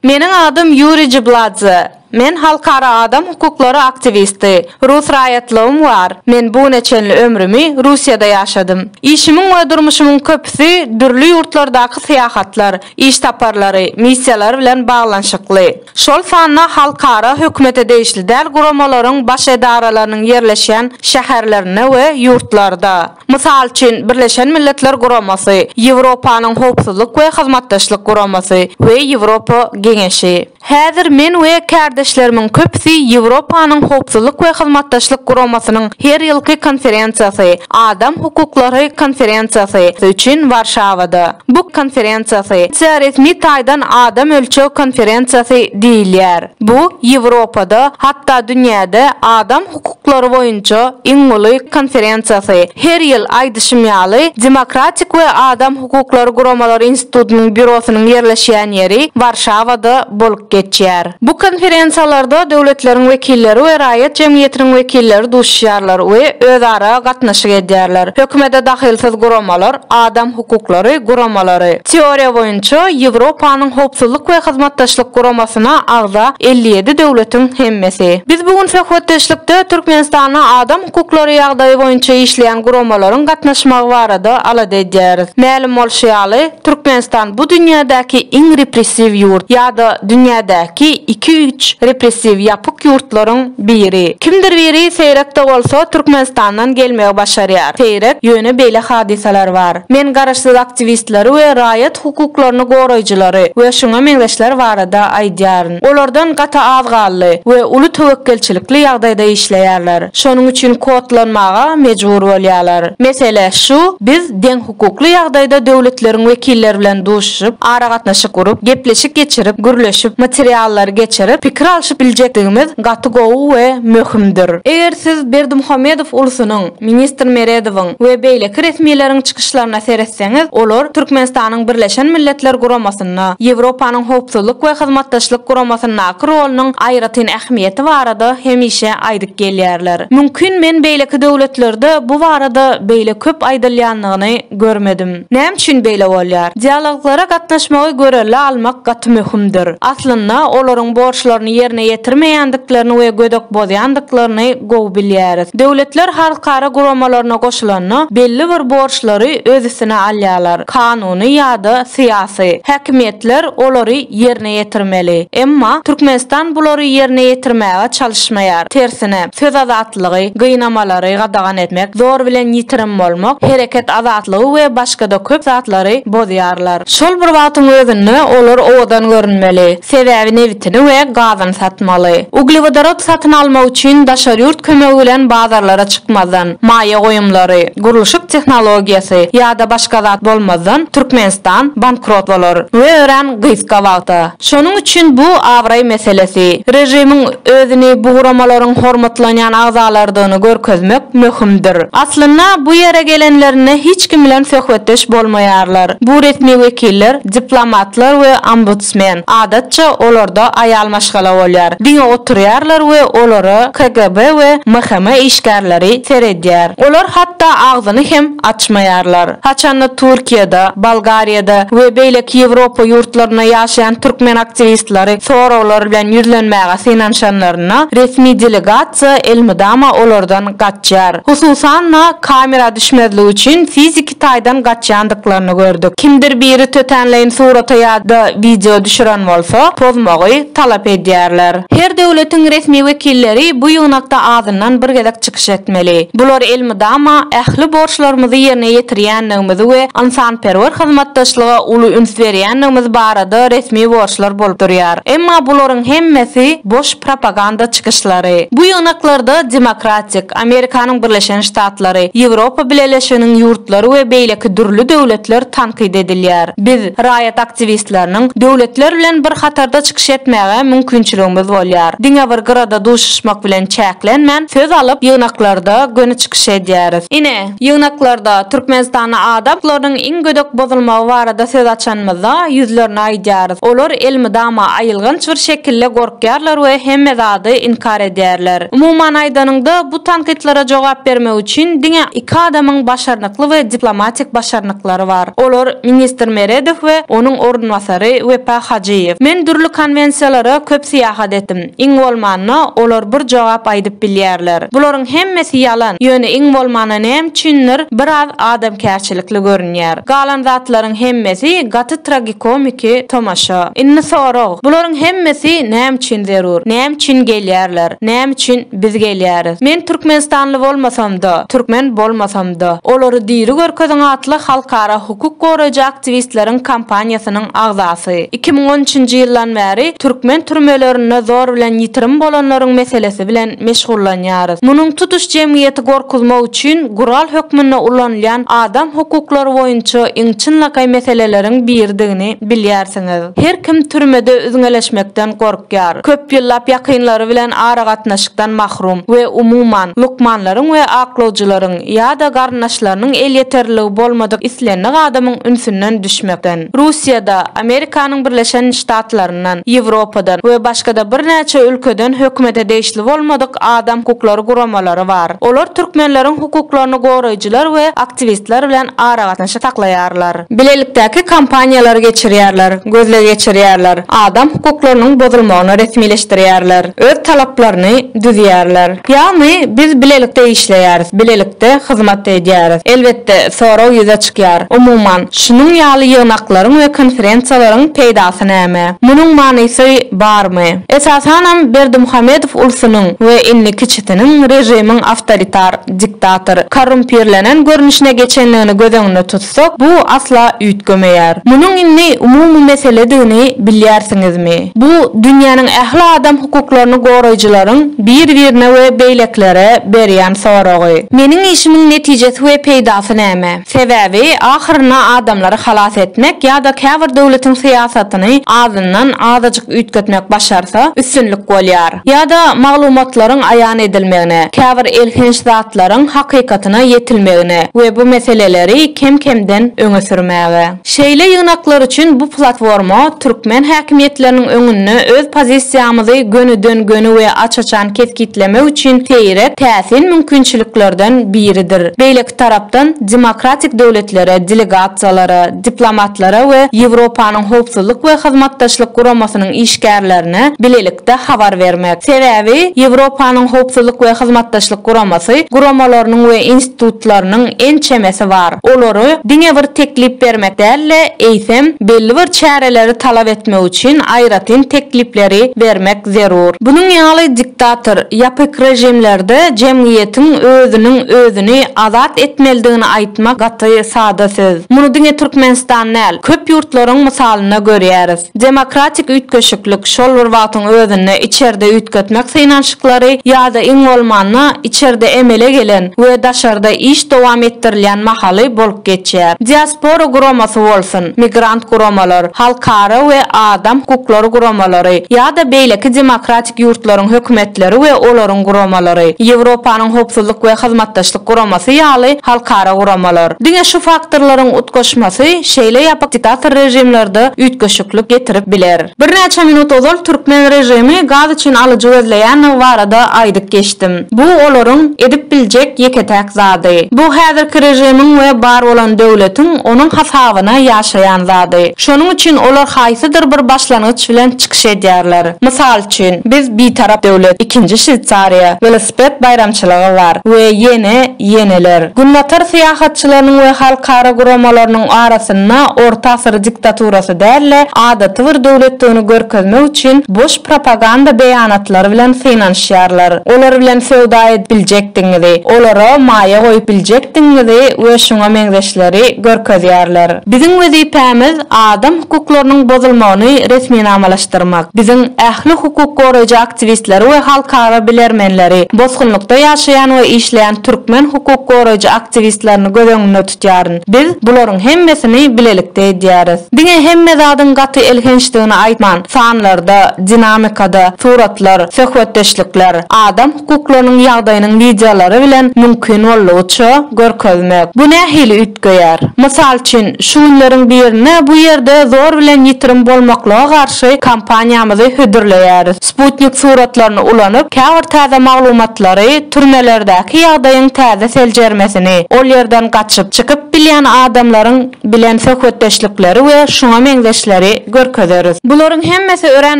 Meniň adym Ýuriý Jibladze. Men halkara adam hukuklary aktiwisti. Rus raýatlygym bar. Men bu güne çenli ömrümi Russiýada ýaşadym. Işimiň we durmuşymyň köpüsi dürli ýurtlardaky syýahatlar, iş saparlary, missiýalary bilen baglanyşykly, şol sanda halkara hökümete degişli däl guramalaryň baş edaralarynyň ýerleşýän şäherlerinde we ýurtlarda, mysal üçin, Birleşen Milletler Guramasy, Ýewropanyň Howpsuzlyk we Hyzmatdaşlyk Guramasy we Ýewropa Geňeşi. Häzir men we kärdeşlerimiň köpüsi Ýewropanyň Howpsuzlyk we Hyzmatdaşlyk Guramasynyň her ýylky konferensiýasy, Adam hukuklary konferensiýasy, üçin Warşawada. Bu konferensiýasy tä resmi taýdan Adam ölçeg konferensiýasy diýilýär. Bu Ýewropada, hatda dünýäde Adam hukuklary boýunça iň uly konferensiýasy, her ýyl, aýdyşym ýaly, Demokratik we adam hukuklary guramalary institutynyň býurosynyň ýerleşýän ýeri Warşawada bolup geçýär. Bu konferensiýalarda döwletleriň wekilleri we raýat jemgyýetiniň wekilleri duşýarlar we özara gatnaşyk edýärler, hökümete dahylsyz guramalar, adam hukuklary guramalary. Teoriýa boýunça Ýewropanyň Howpsuzlyk we Hyzmatdaşlyk Guramasyna agza elli ýedi döwletiň hemmesi. Biz bu gün söhbetdeşlikde Türkmenistanda adam hukuklary ýagdaýy boýunça işleýän guramalaryň gatnaşmagy barada alada edýäris. Mälim bolşy ýaly, Türkmenistan bu dünýädäki iň repressiw ýurt ýa-da dünýädäki iki-üç repressiw ýapyk ýurtlaryň Biri, kimdir biri seýrek-de bolsa Türkmenistandan gelmegi başarýar. Seýrek, ýöne beýle hadysalar bar. Men garaşsyz aktiwistleri we raýat hukuklaryny goraýjylary we şuňa meňzeşler barada aýdýaryn. Olardan gaty az galdy we uly töwekgelçilikli ýagdaýda işleýärler. Şonuň üçin kodlanmaga mejbur bolýarlar. Mesele şu, biz deň. hukukly ýagdaýda döwletleriň wekilleri bilen duşuşyp, aragatnaşyk gurup, gepleşik geçirip, gürleşip, materiallary geçirip, pikir alşyp biljekdigimiz gaty gowy we möhümdir. Eger siz Berdimuhamedow ulusynyň, ministr Meredowyň we beýleki resmileriň çykyşlaryna seretseňiz, olar Türkmenistanyň Birleşen Milletler Guramasynyň, ýolbaşçysynda Ýewropanyň Howpsuzlyk we Hyzmatdaşlyk Guramasyndaky rolunyň aýratyn ähmiýeti barada hemişe aýdyp gelýärler. Mümkin men beýleki döwletlerde bu barada beýle köp aýdylýanyny görmedim. Näme üçin beýle bolýar? Dialoglara gatnaşmagy görelde almak gaty möhümdir. Aslynda olaryň borçlaryny ýerine ýetirmeýändiklerini we gödek bozýandyklaryny gowy bilýäris. Döwletler halkara guramalaryna goşulanda belli bir borçlary öz üstüne alýarlar, kanun, Ony ýa-da syýasy häkimiýetler olary ýerine ýetirmeli. Emma Türkmenistan bulary ýerine ýetirmäge çalyşmaýar. Tersine, söz azatlygy, gynamalary gadagan etmek, zor bilen ýitirim bolmak, hereket azatlygy we başga-da köp zatlary bozýarlar. Şol bir wagtyň özünde olar owadan görünmeli, sebäbi nebitini we gazyny satmaly. Uglewodorod satyn almak üçin daşary ýurt kömegi bilen bazarlara çykmazdan, maýa goýumlary, gurluşyk tehnologiýasy ýa-da başga zat bolmazdan Türkmenistan bankrot bolar we örän gysga wagta. Şonuň üçin bu abraý meselesi. Režimiň özüni bu guramalaryň hormatlanýan agzalarydygyny görkezmek möhümdir. Aslynda bu ýere gelenlerinde hiç kim bilen söhbetdeş bolmaýarlar. Bu resmi wekiller, diplomatlar we ombudsman. Biznesmen, adatça, olarda aýal maşgala bolýar, diňe oturýarlar we olara KGB we MHM işgärleri seredýär. Olar hatda agzyny hem açmaýarlar. Haçanda Türkiýede, Bolgariýada we beýleki Ýewropa ýurtlarynda ýaşaýan türkmen aktiwistleri soraglar bilen ýüzlenmäge synanyşanlarynda, resmi delegasiýa elmydama olardan gaçýar. Hususan-da, kamera düşmezligi üçin fiziki taýdan gaçýandyklaryny gördük. Kimdir biri tötänleýin surata ýa-da wideo düşüren bolsa, pozmagy talap edýärler. Her döwletiň resmi wekilleri bu ýygnakda azyndan bir gezek çykyş etmeli. Bular elmydama ähli borçlarymyzy ýerine ýetirýändigimizi we ynsanperwer hyzmatdaşlyga uly üns berýändigimiz barada resmi borçlar bolup durýar. Emma bularyň hemmesi boş propaganda çykyşlary. Bu ýygnaklarda demokratik, Amerikanyň Birleşen Ştatlary, Ýewropa Bileleşiginiň ýurtlary we beýleki dürli döwletler tankyt edilýär. Biz, raýat aktiwistleriniň, döwletler bilen bir hatarda çykyş etmäge mümkinçiligimiz bolýar. Diňe bir gyrada duşuşmak bilen çäklenmän, söz alyp, ýygnaklarda göni çykyş edýäris. Ine, Ýygnaklarda Türkmenistanda adam huklarynyň iň gödek bozulmagy barada söz açanymyzda, ýüzlerine aýdýarys. Olar elmydama aýylganç bir şekilde gorkýarlar we hemme zady inkar edýärler. Umuman aýdanyňda, bu tankytlara jogap bermek üçin diňe iki adamyň başarnykly we diplomatik başarnyklary bar. Olar ministr Meredow we onuň orunbasary Wepa Hajyýew. Men dürli konwensiýalara köp syýahat etdim. Iň bolmanda, olar bir jogap aýdyp bilýärler. Bularyň hemmesi ýalan, ýöne iň bolmanda näme üçindir, biraz adamkärçilikli görünýär. Galan zatlaryň hemmesi gaty tragikomiki tomaşa. Indi sorag, bularyň hemmesi näme üçin zerur? Näme üçin gelýärler? Näme üçin biz gelýäris? Men türkmenistanly bolmasam-da, türkmen bolmasam-da, olary diri görkeziň atly halkara hukuk goraýjy aktiwistleriň kampaniýasynyň agzasy. Iki müň on üçünji ýyldan bäri türkmen türmelerinde zor bilen ýitirim bolanlaryň meselesi bilen meşgullanýarys. Munuň tutuş jemgyýeti gorkuzmak üçin gural hökmünde ulanylýan adam hukuklary boýunça iň çynlakaý meseleleriň biridigini bilýärsiňiz. Her kim türmede üzňeleşmekden gorkýar. gorkýar, köp ýyllap ýakynlary bilen aragatnaşykdan mahrum we umuman, lukmanlaryň we aklawjylaryň ýa-da garyndaşlarynyň elýeterliligi bolmadyk islendik adamyň ünsünden düşmekden. Russiýada, Amerikanyň Birleşen Ştatlaryndan, Ýewropadan we başga-da birnäçe ülkeden hökümete degişli bolmadyk adam hukuklary guramalary bar. Olar türkmenleriň hukuklaryny goraýjylar we aktiwistler bilen aragatnaşyk saklaýarlar. bilelikdäki kampaniýalary geçirýärler, gözleg geçirýärler, adam hukuklarynyň bozulmagyny resmileşdirýärler, öz talaplaryny düzýärler. Ýagny biz bilelikde işleýäris, bilelikde hyzmat edýäris. Elbetde, sorag ýüze çykýar, umuman, şunuň ýaly ýygnaklaryň we konferensiýalaryň peýdasy näme? Munuň manysy barmy? Esasanam Berdimuhamedow ulsunyň we indi kiçisiniň režimiň awtoritar, diktator, korrumpirlenen görnüşine geçendigini göz öňünde tutsak, bu asla üýtgemeýär. Munuň indi umumy meseledigini bilýärsiňizmi? Bu dünýäniň ähli adam hukuklaryny goraýjylaryň bir-birine we beýlekilere berýän soragy. Meniň işimiň netijesi we peýdasy näme? Sebäbi, ahyrynda adamlary halas etmek ýa-da käbir döwletiň syýasatyny azyndan azajyk üýtgetmek başarsa, üstünlik bolýar. Ýa-da maglumatlaryň aýan edilmegine, käbir elhenç zatlaryň hakykatyna ýetilmegine we bu meseleleri kem-kemden öňe sürmäge. Şeýle ýygnaklar üçin bu platforma türkmen häkimiýetleriniň öňünde öz pozisiýamyzy gönüden-göni we aç-açan kesgitlemek üçin seýrek, täsin mümkinçiliklerden biridir. Beýleki tarapdan, demokratik döwletlere delegasiýalara, diplomatlara we Ýewropanyň Howpsuzlyk we Hyzmatdaşlyk Guramasynyň işgärlerine bilelikde habar bermek. Sebäbi, Ýewropanyň Howpsuzlyk we Hyzmatdaşlyk Guramasy guramalarynyň we institutlarynyň ençemesi bar. Olary diňe bir teklip bermek däl-de, eýsem, belli bir çäreleri talap etmek üçin aýratyn teklipleri bermek zerur. Bunuň ýaly diktator, ýapyk režimlerde jemgyýetiň özüniň özüni azat etmelidigini aýtmak gaty sada söz. Muny diňe Türkmenistan däl, köp ýurtlaryň mysalynda görýäris. Demokratik üýtgeşiklik, şol bir wagtyň özünde içerde üýtgetmek synanyşyklary ýa-da iň bolmanda, içerde emele gelen we daşarda iş dowam etdirilýän mahaly bolup geçýär. Diaspora guramasy bolsun, migrant guramalar, halkara we adam hukuklary guramalary ýa-da beýleki demokratik ýurtlaryň hökümetleri we olaryň guramalary, Ýewropanyň Howpsuzlyk we Hyzmatdaşlyk Guramasy ýaly halkara guramalar. Diňe şu faktorlaryň utgaşmasy şeýle ýapyk diktator režimlerde üýtgeşiklik getirip biler. Birnäçe minut ozal türkmen režimi gaz üçin alyjy gözleýändigi barada aýdyp geçdim. Bu olaryň edip biljek ýeke-täk zady. Bu häzirki režimiň we bar bolan döwletiň onuň hasabyna ýaşaýan zady. Şonuň üçin olar haýsydyr bir başlangyç bilen çykyş edýärler. Mysal üçin, biz Bitarap döwlet, Ikinji Şweýsariýa, Welosiped baýramçylygy bar we ýene, ýeneler. Günbatar syýahatçylarynyň we halkara guramalarynyň arasynda orta asyr diktaturasy däl-de, adaty bir döwletdigini görkezmek üçin boş propaganda beýanatlary bilen synanyşýarlar. Olar bilen söwda edip biljekdigiňizi, olara maýa goýup biljekdigiňizi we şuňa meňzeşleri görkezýärler. Biziň wezipämiz Adam hukuklarynyň bozulmagyny resminamalaşdyrmak, biziň ähli hukuk goraýjy aktiwistleri we halkara bilermenleri, bosgunlykda ýaşaýan we işleýän türkmen hukuk goraýjy aktiwistlerini göz öňünde tutýaryn. Biz bularyň hemmesini bilelikde edýäris. Diňe hemme zadyň gaty elhençdigini aýtman, sanlarda, dinamikada, suratlar, söhbetdeşlikler, adam hukuklarynyň ýagdaýynyň wideolary bilen mümkin boldugyça görkezmek. Bu nähili üýtgeýär? Mysal üçin, şu günleriň birinde bu ýerde zor bilen ýitirim bolmaklyga garşy kampaniýamyzy hödürleýäris. Sputnik suratlaryny ulanyp, käbir täze maglumatlary, türmelerdäki ýagdaýyň täze seljermesini, ol ýerden gaçyp, çykyp bilýän adamlaryň, bilen söhbetdeşlikleri we şuňa meňzeşleri görkezeris. Bularyň hemmesi örän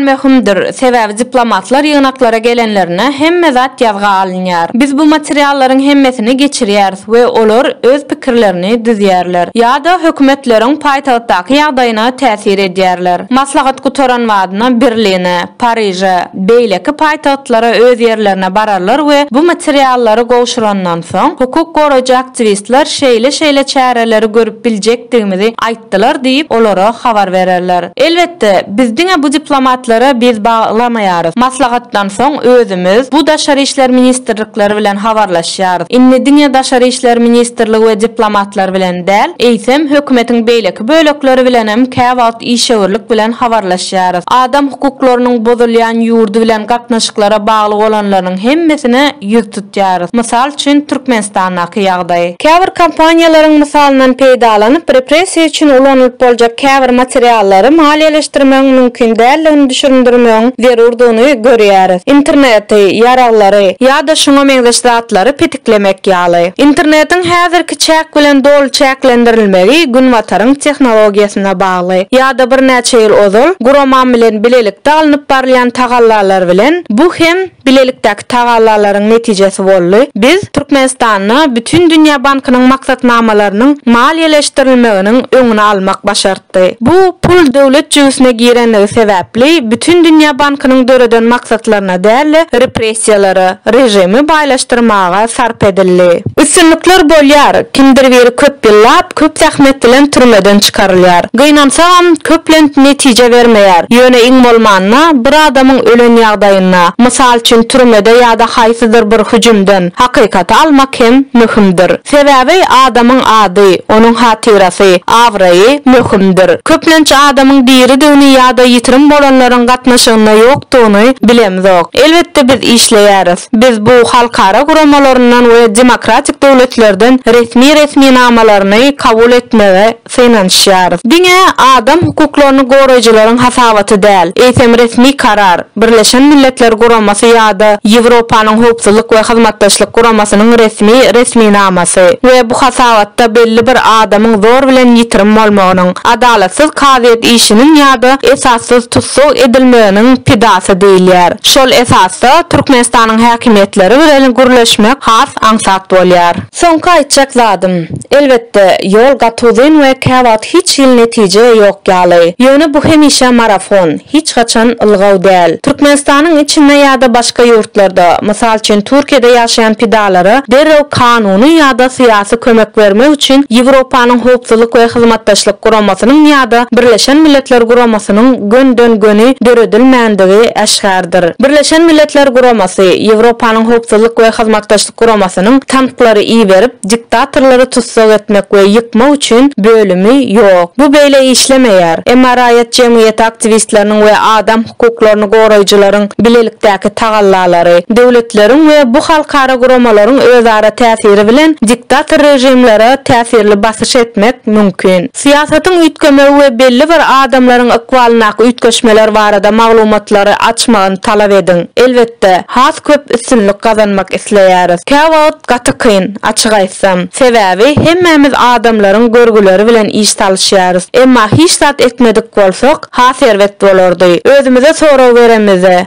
möhümdir, sebäbi diplomatlar ýygnaklara gelenlerinde hemme zat ýazga alynýar. Biz bu materiallaryň hemmesini geçirýäris we olar öz pikirlerini düzýärler ýa-da hökümetleriň paýtagtdaky ýagdaýyna täsir edýärler. Maslahat gutaran badyna Berline, Pariže, beýleki paýtagtlara öz ýerlerine bararlar we bu materiallary gowşurandan. Soň hukuk goraýjy aktiwistler şeýle-şeýle çäreleri görüp biljekdigimizi aýtdylar diýip, olara habar bererler. Elbetde, biz diňe bu diplomatlary biz baglamaýarys. Maslahatdan soň özümiz bu daşary işler ministrlikleri bilen habarlaşýarys. Indi diňe daşary işler ministrligi we diplomatlar bilen däl, eýsem, hökümetiň beýleki bölekleri bilenem käwagt işewürlik bilen habarlaşýarys. Adam hukuklarynyň bozulýan ýurdy bilen gatnaşyklara bagly bolanlarynyň hemmesine, ýüz tutýarys. Mysal üçin, Türkmenistandaky ýagdaý. Käbir kompaniýalaryň mysalyndan peýdalanyp, repressiýa üçin ulanylyp boljak käbir materiallary maliýeleşdirmegiň mümkin däldigini düşündirmegiň zerurdygyny görýäris. Interneti, ýaraglary ýa-da şuňa meňzeş zatlary petiklemek ýaly. Internetiň häzirki çäk bilen doly çäklendirilmegi Günbataryň tehnologiýasyna bagly. Ýa-da birnäçe ýyl ozal, guramam bilen bilelikde alnyp barylýan tagallalar bilen bu hem, Bilelikdäki tagallalaryň netijesi boldy. Biz Türkmenistanda Bütindünýä bankynyň maksatnamalarynyň maliýeleşdirilmeginiň öňüni almak başartdy. Bu pul döwlet jübüsine girenligi sebäpli Bütindünýä bankynyň döreden maksatlaryna däl-de repressiýalara, režimi baýlaşdyrmaga sarp edildi. Üstünlikler bolýar, kimdir biri köp ýyllap, köp zähmet bilen türmeden çykarylýar. Gynansagam, köplenç netije bermeýär, ýöne iň bolmanda, bir adamyň ölen ýagdaýynda, mysal üçin türmede ýa-da haýsydyr bir hüjümden, hakykaty almak hem möhümdir. Sebäbi adamyň ady, onuň hatyrasy, abraýy möhümdir. Köplenç adamyň diridigini ýa-da ýitirim bolanlaryň gatnaşygynda ýokdugyny bilemzok. Elbetde biz işleýäris. Biz bu halkara guramalaryndan we demokratik döwletlerden resmi resminamalaryny kabul etmegi synanyşýarys. Diňe adam hukuklaryny goraýjylaryň hasabaty däl, eýsem resmi karar, Birleşen Milletler Guramasy ýa-da Ýewropanyň Howpsuzlyk we Hyzmatdaşlyk Guramasynyň resmi resminamasy we bu hasabatda belli bir adamyň zor bilen ýitirim bolmagynyň, adalatsyz kazyýet işiniň ýa-da esassyz tussag edilmeginiň pidasy diýilýär. Şol esasda Türkmenistanyň häkimiýetleri bilen gürleşmek has aňsat bolýar. Soňky aýtjak zadym, elbetde, ýol gaty uzyn we käwagt hiç hili netije ýok ýaly. Ýöne bu hemişe marafon, hiç haçan ylgaw däl. Türkmenistanyň içinde ýa-da başga ýurtlarda, mysal üçin Türkiýede ýaşaýan pidalara derrew kanuny ýa-da syýasy kömek bermek üçin Ýewropanyň Howpsuzlyk we Hyzmatdaşlyk Guramasynyň ýa-da Birleşen Milletler Guramasynyň göni-den-göni döredilmän edýändigi äşgärdir. Birleşen Milletler Guramasy, Ýewropanyň Howpsuzlyk we Hyzmatdaşlyk Guramasynyň tanklary iberip, diktatorlary tussag etmek we ýykmak üçin bölümi ýok. Bu beýle işlemeýär. Emma raýat jemgyýeti aktiwistleriniň we adam hukuklaryny goraýjylaryň bilelikdäki tagallalary, döwletleriň we bu halkara guramalaryň özara täsiri bilen diktator režimlere täsirli basyş etmek mümkin. Syýasatyň üýtgemegi we belli bir adamlaryň ykbalyndaky üýtgeşmeler barada maglumatlary açmagyny talap ediň. Elbetde, has köp üstünlik gazanmak isleýäris. Käwagt gaty kyn, açyk aýtsam. Sebäbi hemmämiz adamlaryň görgüleri bilen iş salyşýarys. Emma hiç zat etmedik bolsak, has erbet bolardy. Özümize sorag beremizde,